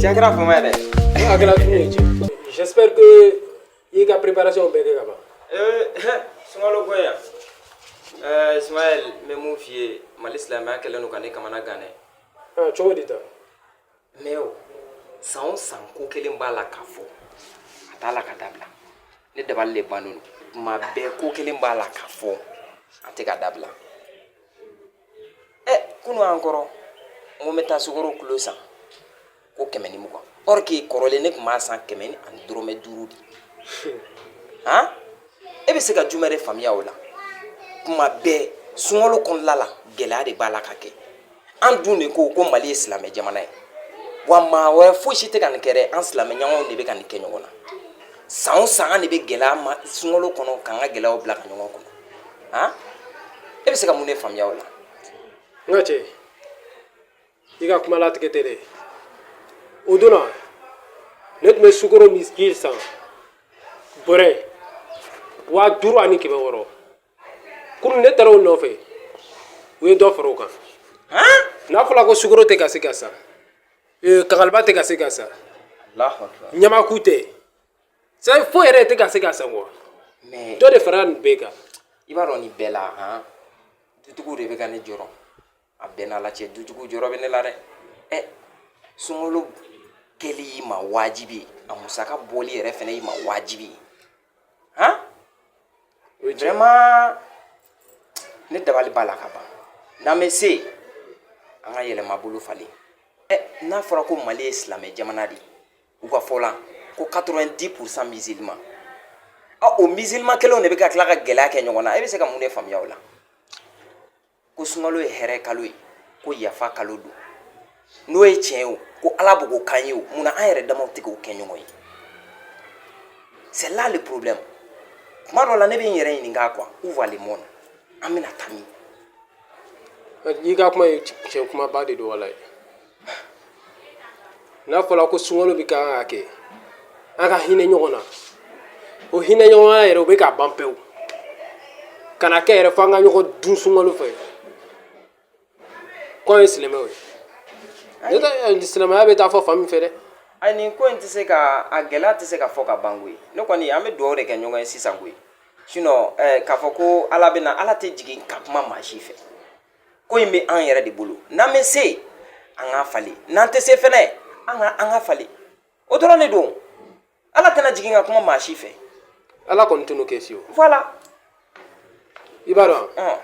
Tiɲɛ kɛra fama yɛrɛ. N hakilila tun ye cɛ. J'espère que i y'i ka préparation bɛɛ kɛ ka ban. Ee sunkalo ko in yan. Ɛɛ Ismaël n bɛ mun f'i ye Mali silamɛya kɛlen don ka ne kamana gan dɛ. Aa cogo di tan? mais o san o san ko kelen b'a la k'a fɔ a t'a la ka dabila ne dabali le bannen don tuma bɛɛ ko kelen b'a la k'a fɔ a tɛ ka dabila ɛ kunun encore n ko n bɛ taa sukoro kilo san ko kɛmɛ ni mugan or que kɔrɔlen ne tun b'a san kɛmɛ ni ani dɔrɔmɛ duuru de han e bɛ se ka jumɛn de faamuya o la tuma bɛɛ sunkalo kɔnɔla la gɛlɛya de b'a la ka kɛ an dun de ko ko mali ye silamɛ jamana ye wa maa wɛrɛ foyi si tɛ ka nin kɛ dɛ an silamɛ ɲɔgɔnw de bɛ ka nin kɛ ɲɔgɔn na san o san an de bɛ gɛlɛya ma sunkalo kɔnɔ k'an ka gɛlɛyaw bila ka ɲɔgɔn kɔnɔ han e bɛ se ka mun de faamuya o la n ka cɛ i ka kuma latigɛ tɛ dɛ o don na ne tun bɛ sukoro ni ji san bɔrɛ waa duuru ani kɛmɛ wɔɔrɔ kunun ne taara o nɔfɛ u ye dɔ fara o kan n'a fɔra ko sukoro tɛ ka se ka san ee, kankaliba tɛ ka se ka san Allahu akbar. ɲamaku tɛ san foyi yɛrɛ tɛ ka se ka san quoi Mais dɔ de fara nin bɛɛ kan i b'a dɔn nin bɛɛ la han dutigiw de bɛ ka ne jɔrɔ a bɛɛ n'a la cɛ dutigiw jɔrɔ bɛ ne la dɛ ɛ sunkalo kɛli y'i ma wajibi ye a musaka bɔli yɛrɛ fɛnɛ y'i ma wajibi ye han o ye tiɲɛ vraiment ne dabali b'a la ka ban n'an bɛ se, an ka yɛlɛma bolo falen ɛ n'a fɔra ko mali ye silamɛ jamana de ye u ka fɔ la ko 90 pourcent musulman ɔ o musulman kelenw de bɛ ka tila ka gɛlɛya kɛ ɲɔgɔn na e bɛ se ka mun de faamuya o la ko sunkalo ye hɛrɛ kalo ye ko yafa kalo don n'o ye tiɲɛ ye o ko ala b'o ko k'an ye o munna an yɛrɛ damaw tɛ k'o kɛ ɲɔgɔn ye c'est là le problème tuma dɔ la ne bɛ n yɛrɛ ɲininka quoi où va le monde an bɛna taa min i ka kuma ye tiɲɛ kumaba de don walayi n'a fɔra ko sunkalo bɛ kan ka kɛ an ka hinɛ ɲɔgɔn na o hinɛ ɲɔgɔnya yɛrɛ o bɛ ka ban pewu ka na kɛ yɛrɛ fo an ka ɲɔgɔn dun sunkalo fɛ k'an ye silamɛw ye ne tɛ eh, silamɛya bɛ taa fɔ fan min fɛ dɛ a nin ko in tɛ se ka a gɛlɛya tɛ se ka fɔ ka ban koyi ne kɔni an bɛ dugawu de kɛ ɲɔgɔn ye sisan koyi sinon eh, k'a fɔ ko ala bɛ na ala tɛ jigin ka kuma maa si fɛ ko in bɛ an yɛrɛ de bolo n'an bɛ se an k'a falen n'an tɛ se fɛnɛ an ka an ka falen o dɔrɔn de don ala tɛna jigin ka kuma maa si fɛ ala kɔni tɛn'o kɛ fiyewu voilà i b'a dɔn ɔn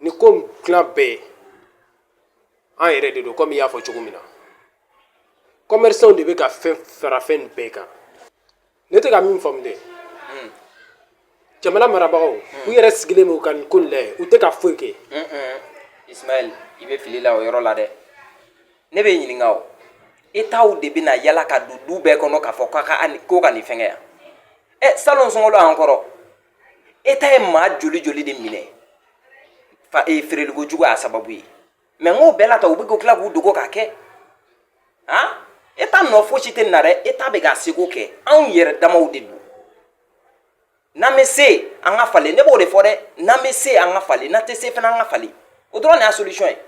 ni ko in dilan bɛɛ an yɛrɛ de don komi i y'a fɔ cogo min na kɔmɛrisanw de bɛ ka fɛn fara fɛn nin bɛɛ kan ne tɛ ka min faamu dɛ jamana marabagaw u yɛrɛ sigilen bɛ ka nin ko in lajɛ u tɛ ka foyi kɛ ismaɛl i bɛ fili la o yɔrɔ la dɛ ne b'i ɲininka o etaw de bɛna yala ka don du bɛɛ kɔnɔ k'a fɔ k'a ka ani- k'o ka nin fɛngɛ yan ɛ salon sunkalo an kɔrɔ eta ye maa joli joli de minɛ fa e feereliko jugu y'a sababu ye mɛ n k'o bɛɛ la ta u bɛ k'o tila k'u dogo k'a kɛ han eta nɔ fosi tɛ nin na dɛ eta bɛ k'a seko kɛ anw yɛrɛ damaw de don n'an bɛ se an ka falen ne b'o de fɔ dɛ n'an bɛ se an ka falen n'an tɛ se fana an ka falen o dɔrɔn de y'a solution ye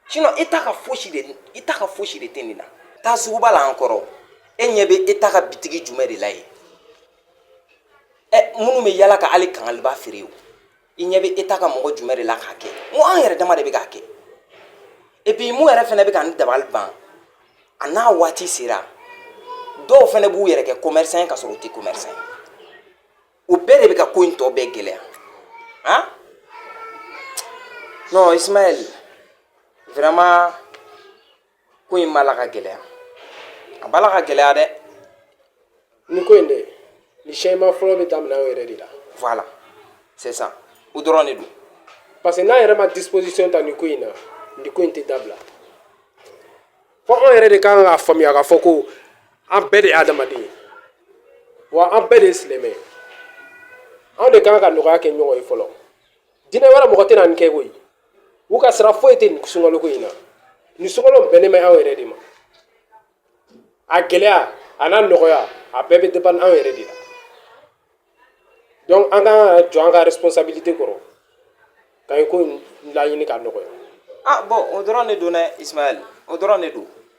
sinon eta ka fosi de eta ka fosi de tɛ nin na taa suguba la an kɔrɔ e ɲɛ bɛ eta ka bitigi jumɛn de la yen ɛ minnu bɛ yala ka hali kangaliba feere o i ɲɛ bɛ eta ka mɔgɔ jumɛn de la k'a kɛ n ko an yɛrɛ dama de bɛ k'a kɛ epi mun yɛrɛ fana bɛ ka n dabali ban a n'a waati sera dɔw fana b'u yɛrɛ kɛ commerçant ye ka sɔrɔ u tɛ commerçant ye o bɛɛ de bɛ ka ko in tɔ bɛɛ gɛlɛya han non ismaɛl vraiment ko in b'a la ka gɛlɛya a b'a la ka gɛlɛya dɛ ni ko in de ni changement fɔlɔ bɛ daminɛ anw yɛrɛ de la voilà c'est ça o dɔrɔn de don parce que n'an yɛrɛ ma disposition ta nin ko in na nin ko in tɛ dabila fo anw yɛrɛ de kan k'a faamuya k'a fɔ ko an bɛɛ de ye adamaden ye wa an bɛɛ de ye silamɛ ye anw de kan ka nɔgɔya kɛ ɲɔgɔn ye fɔlɔ diinɛ wɛrɛ mɔgɔ tɛna nin kɛ koyi u ka sira foyi tɛ nin sunkaloko in na nin sunkalo bɛnnen bɛ anw yɛrɛ de ma a gɛlɛya a n'a nɔgɔya a bɛɛ bɛ dépend anw yɛrɛ de la donc an ka jɔ an ka responsabilité kɔrɔ ka nin ko laɲini ka nɔgɔya ah bɔn o dɔrɔn de don dɛ ismaɛl o dɔrɔn de don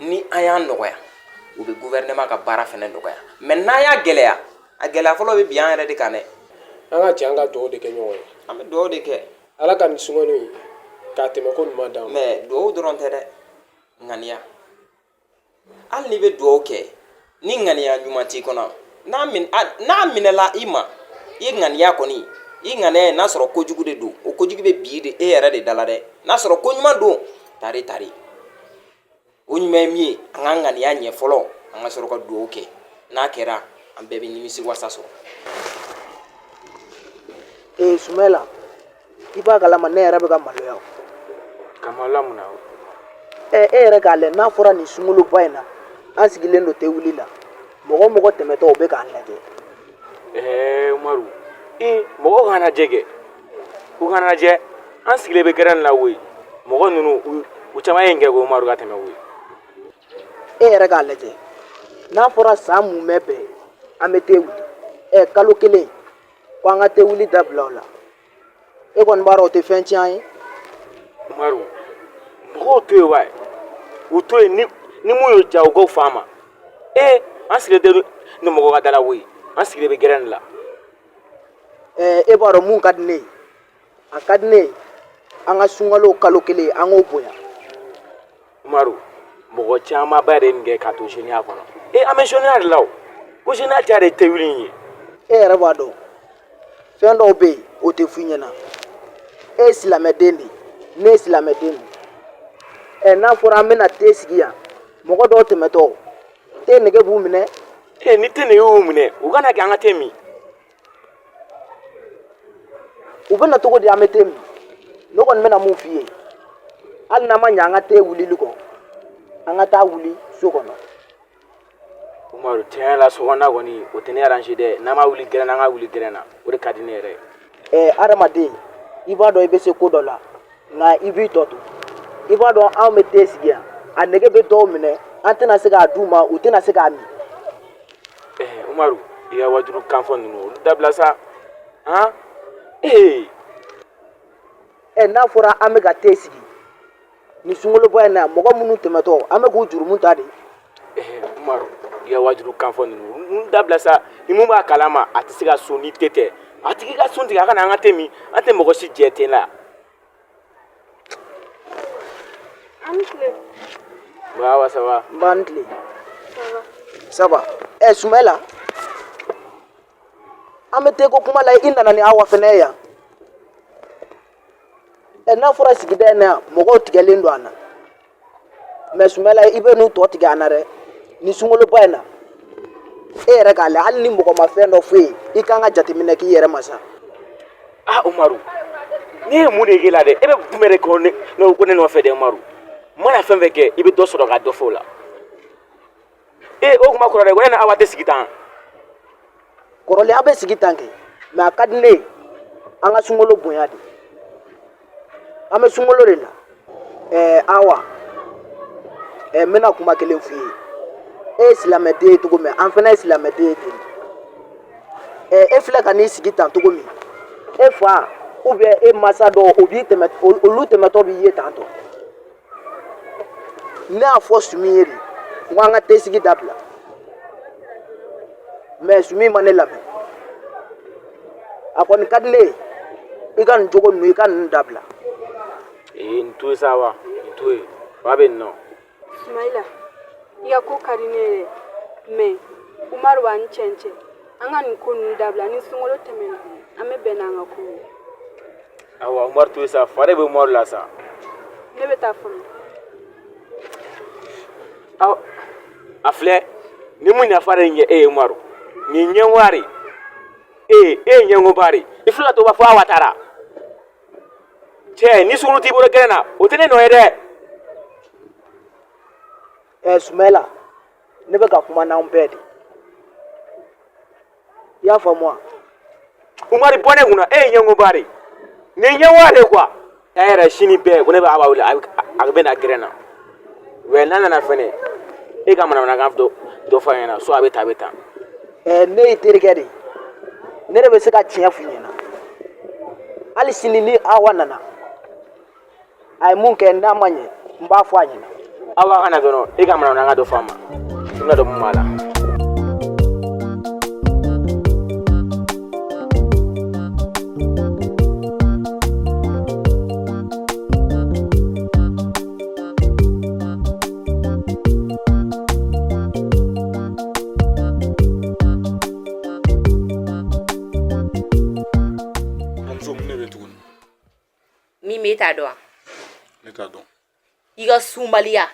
ni an y'a nɔgɔya o bɛ gouvernement ka baara fana nɔgɔya mɛ n'an y'a gɛlɛya a gɛlɛya fɔlɔ bɛ bin an yɛrɛ de kan dɛ an ka jɛ an ka dugawu de kɛ ɲɔgɔn ye an bɛ dugawu de kɛ ala ka nin sunkalo in k'a tɛmɛko ɲuman d'an ma mɛ dugawu dɔrɔn tɛ dɛ ŋaniya hali n'i bɛ dugawu kɛ ni ŋaniya ɲuman t'i kɔnɔ n'a min a n'a minɛla i ma i ŋaniya kɔni i ŋaniya ye n'a sɔrɔ kojugu de don o kojugu bɛ bin de e yɛrɛ de da la dɛ n'a sɔrɔ ko ɲuman don tari tari o ɲuman ye min ye an ka ŋaniya ɲɛ fɔlɔ an ka sɔrɔ ka dugawu kɛ n'a kɛra an bɛɛ bɛ nimisiwasa sɔrɔ ee sumayila i b'a kalama ne yɛrɛ bɛ ka maloya ka maloya mun na e yɛrɛ k'a lajɛ n'a fɔra nin sunkaloba in na an sigilen don te wuli la mɔgɔ mɔgɔ tɛmɛtɔ o bɛ k'an lajɛ ɛɛ umaru mɔgɔ k'an lajɛ kɛ u k'an lajɛ an sigilen bɛ gɛrɛn la koyi mɔgɔ ninnu u caman ye nin kɛ ko umaru ka tɛmɛ koyi e yɛrɛ k'a lajɛ n'a fɔra san mumɛ bɛɛ an bɛ te wuli ɛ kalo kelen ko an ka te wuli dabila o la e kɔni b'a dɔn o tɛ fɛn tiɲɛ ye umaru mɔgɔw to yen wa u to yen ni ni mun y'o ja u k'o fɔ an ma ee an sigilen tɛ ni mɔgɔ ka da la koyi an sigilen bɛ gɛrɛn de la ɛɛ e b'a dɔn mun ka di ne ye a ka di ne ye an ka sunkalo kalo kelen an k'o bonya Umaru mɔgɔ camanba de ye nin kɛ ka to zeniya kɔnɔ e an bɛ zeniya de la o ko zeniya ca de te wuli in ye e yɛrɛ b'a dɔn fɛn dɔw bɛ yen o tɛ f'i ɲɛna e ye silamɛden de ne ye silamɛden de ɛ n'a fɔra an bɛna te sigi yan mɔgɔ dɔw tɛmɛtɔ te nege b'u minɛ e ni te nege y'u minɛ u kana kɛ an ka te min u bɛ na cogo di an bɛ te min ne kɔni bɛna mun f'i ye hali n'an ma ɲɛ an ka te wulili kɔ an ka taa wuli so kɔnɔ umaru tiɲɛ la sokɔnɔna kɔni o tɛ ne arrange dɛ n'an b'a wuli gɛrɛn na an k'a wuli gɛrɛn na o de ka di ne yɛrɛ ye ɛɛ adamaden i b'a dɔn i bɛ se ko dɔ la nka i b'i tɔ to i b'a dɔn anw bɛ te sigi yan a nege bɛ dɔw minɛ an tɛna se k'a d'u ma u tɛna se k'a min Umaru i ka wajulu kanfɔ ninnu olu dabila sa han ee ɛ n'a fɔra an bɛ ka te sigi nin sunkaloba in na mɔgɔ minnu tɛmɛtɔ an bɛ k'u jurumu ta de Umaru i ka wajulu kanfɔ ninnu olu dabila sa ni mun b'a kalama a tɛ se ka sun ni te tɛ a tigi ka sun tigɛ a ka na an ka te min an tɛ mɔgɔ si jɛ te la Baba ça va nba an tile ça va ɛ Sumela an bɛ te ko kuma la i nana ni Awa fana ye yan ɛ n'a fɔra sigida in na yan mɔgɔw tigɛlen don an na mais sumela i bɛ n'u tɔ tigɛ an na dɛ nin sunkaloba in na e yɛrɛ k'a lajɛ hali ni mɔgɔ ma fɛn dɔ f'e ye i kan ka jateminɛ k'i yɛrɛ ma sa a umaru ne ye mun de k'e la dɛ e bɛ jumɛn de kɔ ne ne ko ne nɔfɛ dɛ umaru n mana fɛn fɛn kɛ i bɛ dɔ sɔrɔ ka dɔ fɔ o la ee o kuma kɔrɔ dɛ ko ne ni awa tɛ sigi tan kɔrɔlen aw bɛ sigi tan kɛ mɛ a ka di ne ye an ka sunkalo bonya de an bɛ sunkalo de la ɛɛ awa ɛɛ n bɛna kuma kelen f'i ye e ye silamɛden ye cogo min an fana ye silamɛden ye ten ɛɛ e filɛ ka n'i sigi tan cogo min e fa ubiyɛn e masa dɔw o b'i tɛmɛ olu tɛmɛtɔ b'i ye tantɔ ne y'a fɔ sumi ye de n ko an ka te sigi dabila mɛ sumi ma ne lamɛn a kɔni ka di ne ye i ka nin jogo ninnu i ka ninnu dabila ee nin to yen sa wa nin to yen fa bɛ nin nɔ sumayila i ka ko ka di ne ye dɛ mɛ umaru b'a ni cɛncɛn an ka nin ko ninnu dabila ni sunkalo tɛmɛna an bɛ bɛn n'an ka ko ye awa umaru to yen sa fa de bɛ umaru la sa ne bɛ taa fɔlɔ a filɛ nin mun nafa de ɲɛ e ye umaru nin ɲɛngoba de e ye ɲɛngoba de i filɛ to b'a fɔ awa taara cɛ ni sunkalo t'i bolo gɛrɛn na o tɛ ne nɔ ye dɛ ɛ sumayila ne bɛ ka kuma n'anw bɛɛ de i y'a faamu wa umaru bɔ ne kunna e ye ɲɛngoba de ye nin ye ɲɛngoba de ye kuwa a yɛrɛ sini bɛɛ ko ne bɛ awa wele a bɛ a bɛ na gɛrɛn na wɛ n'a nana fɛnɛ e ka manamanakan dɔ dɔ fɔ a ɲɛna so a bɛ taa a bɛ taa ɛɛ ne y'i terikɛ de ye ne de bɛ se ka tiɲɛ f'i ɲɛna hali sini ni awa nana a ye mun kɛ n'a ma ɲɛ n b'a fɔ a ɲɛna awa ka na dɔrɔn e ka manamanakan dɔ fɔ a ma i bɛn'a dɔn mun b'a la min bɛ e t'a dɔn wa ne t'a dɔn i ka sunbaliya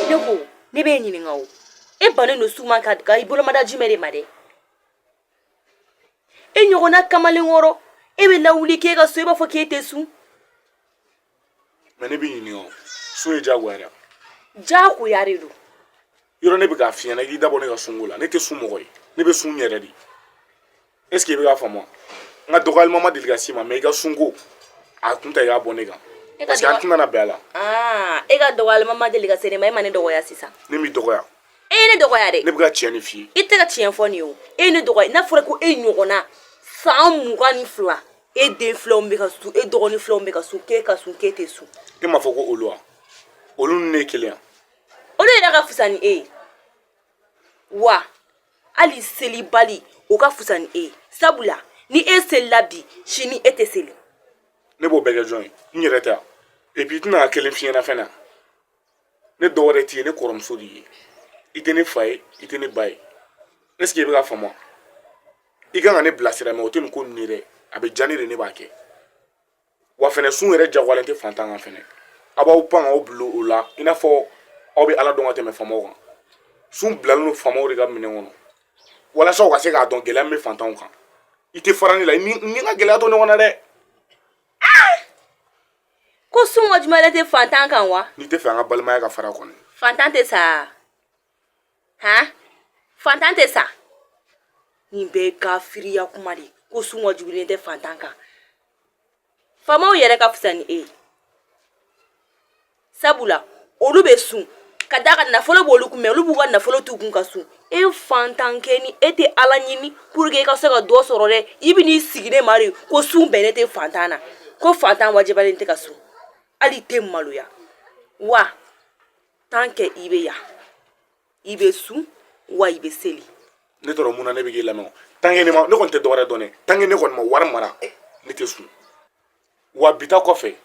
ne ko ne bɛ e ɲininka o e bannen don sun ma ka i bolomada jumɛn de ma dɛ e ɲɔgɔnna kamalenkɔrɔ e bɛ lawuli k'e ka sun i b'a fɔ k'e tɛ sun mɛ ne b'i ɲininka o sun ye jagoya de ye jagoya de don yɔrɔ ne bɛ k'a f'i ɲɛna i k'i da bɔ ne ka sunko la ne tɛ sun mɔgɔ ye ne bɛ sun yɛrɛ de est ce que i bɛ k'a faamu wa n ka dɔgɔyalima ma deli ka s'i ma mɛ i ka sunko a kun ta i k'a bɔ ne kan parce que an tɛna na bɛn a la ah, e ka dɔgɔyalima ma deli ka se ne ma e ma ne dɔgɔya sisan ne m'i dɔgɔya e ye ne dɔgɔya dɛ ne bɛ ka tiɲɛ de f'i ye i tɛ ka tiɲɛ fɔ ne ye o e ye ne dɔgɔya n'a fɔra ko e ɲɔgɔnna san mugan ni fila e den filaw bɛ ka sun e dɔgɔnin filaw bɛ ka sun k'e ka sun k'e tɛ sun e m'a fɔ ko olu wa olu ni ne ye kelen ye wa olu yɛrɛ ka fisa ni e ye wa hali selibali o ka fisa ni e ye sabula ni e selila bi sini e tɛ seli ne b'o bɛɛ kɛ jɔn ye n yɛrɛ tɛ wa epi i tɛna ka kelen f'i ɲɛna fɛnɛ ne dɔwɛrɛ t'i ye ne kɔrɔmuso de ye i tɛ ne fa ye i tɛ ne ba ye est ce que i bɛ k'a faamu i kan ka ne bilasira mɛ o tɛ nin ko ninnu ye dɛ a bɛ diya ne de ne b'a kɛ wa fɛnɛ sun yɛrɛ jagoyalen tɛ fantan kan fɛnɛ aw b'aw pan k'aw bila o la i n'a fɔ aw bɛ ala dɔn ka tɛmɛ faamaw kan sun bilalen don faamaw de ka minɛn kɔnɔ walasa u ka se k'a dɔn gɛlɛya min bɛ fantanw kan i tɛ fara ne la ni n ka gɛlɛya to ɲɔgɔn na dɛ ko sun wajibiyalen tɛ fantan kan wa n'i t'a fɛ an ka balimaya ka fara kɔni fantan tɛ sa han fantan tɛ sa nin bɛɛ ye kafiriya kuma de ye ko sun wajibiyalen tɛ fantan kan faamaw yɛrɛ ka fisa ni e ye sabula olu bɛ sun ka d'a kan nafolo b'olu kun mɛ olu b'u ka nafolo t'u kun ka sun e fantankɛ ni e tɛ ala ɲini pour que e ka se ka dɔ sɔrɔ dɛ i bɛ n'i sigi ne ma de ko sun bɛnnen tɛ fantan na ko fantan wajibiyalen tɛ ka sun hali i tɛ maloya wa tant que i bɛ yan i bɛ sun wa i bɛ seli ne tɔɔrɔ mun na ne bɛ k'i lamɛn tant que ne ma ne kɔni tɛ dɔwɛrɛ dɔn dɛ tant que ne kɔni ma wari mara ne tɛ sun wa bi ta kɔfɛ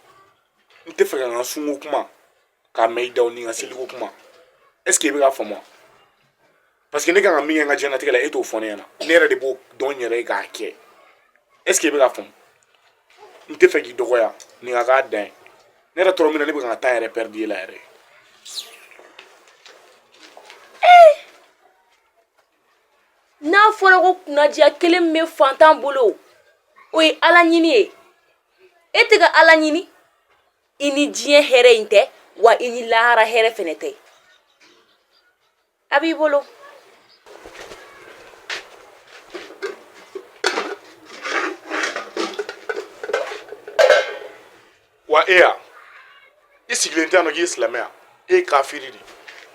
n t'a fɛ ka n ka sunko kuma k'a mɛn i da ni n ka seliko kuma ɛseke i bɛ k'a faamu paseke ne kan ka min kɛ n ka diɲɛnatigɛ la e t'o fɔ ne ɲɛna ne yɛrɛ de b'o dɔn n yɛrɛ ye k'a kɛ ɛseke i bɛ k'a faamu n t'a fɛ k'i dɔgɔya nin ka k'a dan ye ne yɛrɛ tɔɔrɔ mun na ne bɛ ka n ka tan yɛrɛ pɛridi e la yɛrɛ n'a fɔra ko kunnadiya kelen bɛ fantan bolo o ye ala ɲini ye e tɛ ka ala ɲini i ni diɲɛ hɛrɛ in tɛ wa i ni lahara hɛrɛ fɛnɛ tɛ a b'i bolo wa e yan i sigilen tɛ yan nɔ k'i ye silamɛ ye wa e ye kafiri de ye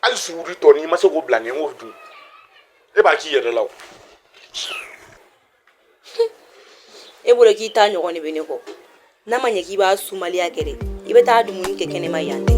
hali suguri tɔ n'i ma se k'o bila ne k'o dun e b'a k'i yɛrɛ la o e bolo k'i ta ɲɔgɔn de bɛ ne kɔ n'a ma ɲɛ k'i b'a sumaliya kɛ dɛ i bɛ taa dumuni kɛ kɛnɛma yan tɛ